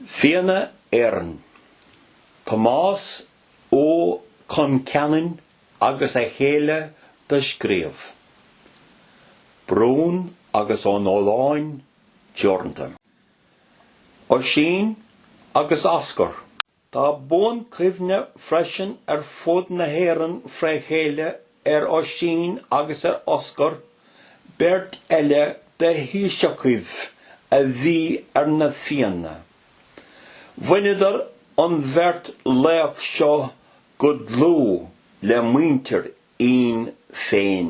Fianna Éireann. Tomás Ó Concheanainn agus a chéile do scríobh. Brún agus Ó Nóláin teoranta. Oisín agus Oscar. Tá buanchuimhne freisin ar fud na hÉireann fré chéile ar Oisín agus ar Oscar, beirt eile de thaoiseacha a bhí ar na Fiana. Bhaineadar an bheirt laoch seo go dlúth le muintir Fhionn féin.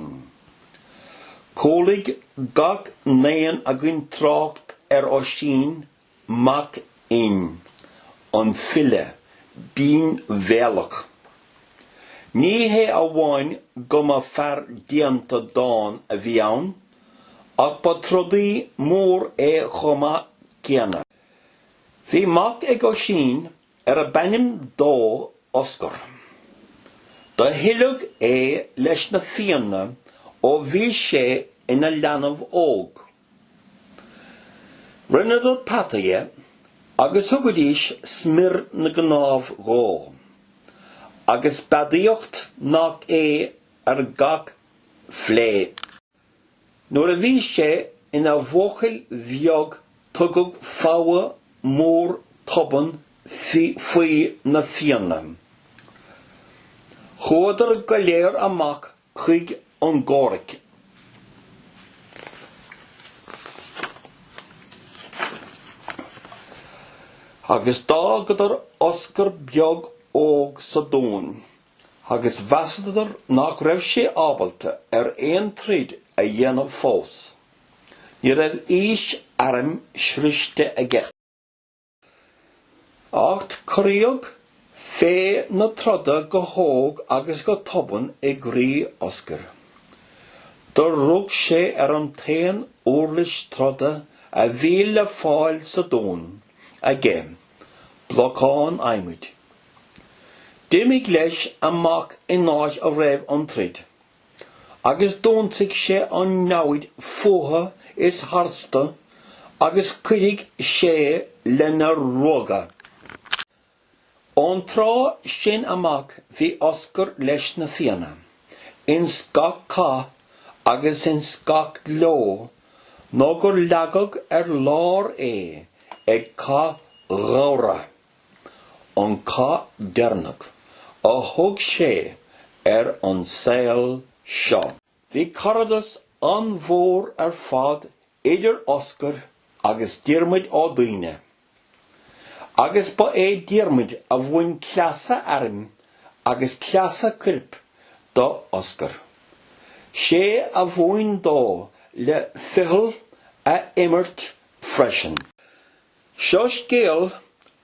Chualaigh gach n-aon againn trácht ar Oisín Mac Fhinn, an file binnbhéalach. Ní hé amháin go mba fear déanta dán a bhí ann, ach ba trodaí mór é chomh maith céanna. Bhí mac ag Oisín arbh ainm dó Oscar. Do hoileadh é leis na Fianna ó bhí sé ina leanbh óg. Rinneadar peata dhe agus thugaidís smior na gcnámh dhó, agus beadaíocht nach é ar gach fleadh. Nuair a bhí sé ina bhuachaill bheag tugadh fogha mór tobann faoi na Fianna. Chuadar go léir amach chuig an gcomhraic. Agus d'fhágadar Oscar Beag Óg sa dún agus mheasadar nach raibh sé ábalta ar aon troid a dhéanamh fós. Ní raibh aois airm sroichte aige. Acht corraíodh féith na troda go hóg agus go tobann i gcroí Oscair. Do rug sé ar an t-aon úirlis troda a bhí le fáil sa dún aige, blocán adhmaid. D'imigh leis amach in áit a raibh an troid. agus d'ionsaigh sé an namhaid fútha is tharstu agus chuidigh sé le n-a ruagadh. Ón tráth sin amach bhí Oscar leis na Fianna ins gach cath agus ins gach gleo nó gur leagadh ar lár é ag Cath Ghabhra. an cath deireanach a thug sé ar an saol seo. Bhí caradas an-mhór ar fad idir Oscar agus Diarmuid Ó Duibhne, agus ba é Diarmuid a mhúin cleasa airm agus cleasa coirp do Oscar. 'Sé a mhúin dó le ficheall a imirt freisin. Seo scéal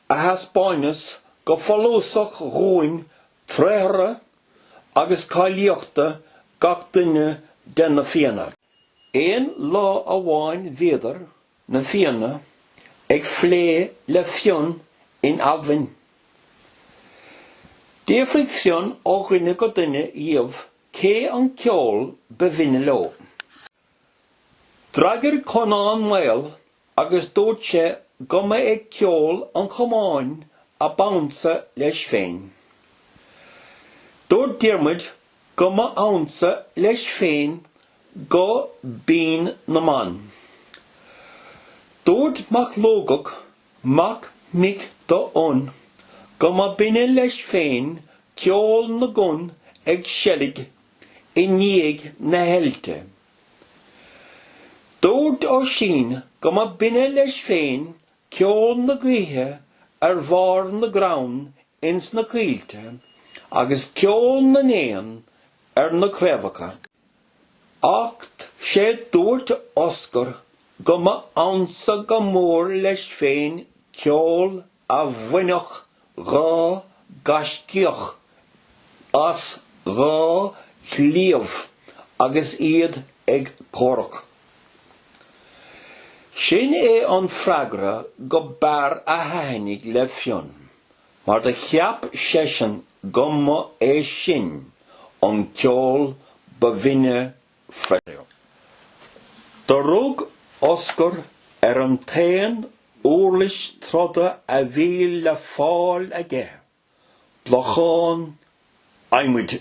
a thaispeáineas go follasach dhúinn tréithre agus cáilíochta gach duine de na Fianna. Aon lá amháin bhíodar, na Fianna, ag plé le Fionn in Almhain. D'fhiafraigh Fionn ó dhuine go duine dhíobh cé an ceol ba bhinne leo. D'fhreagair Conán Maol agus dúirt sé go mba é ceol an chamáin a b'ansa leis féin. Dúirt Diarmuid go mba ansa leis féin guth binn na mban. Dúirt Mac Lugach mac mic do Fhionn go mba binne leis féin ceol na gcon ag seilg i ndiaidh na heilte. Dúirt Oisín go mba binne leis féin ceol na gaoithe ar bharr na gcrann ins na coillte agus ceol na n-éan ar na craobhacha. Acht sé dúirt Oscar go mba ansa go mór leis féin ceol a bhainfeadh dhá gaiscíoch as dhá chlaíomh agus iad ag comhrac. Sin é an freagra go b'fhearr a thaithnigh le Fionn, mar do cheap seisean go mba é sin an ceol ba bhinne freisin. Do rug Oscar ar an t-aon uirlis troda a bhí le fáil aige, blocán adhmaid.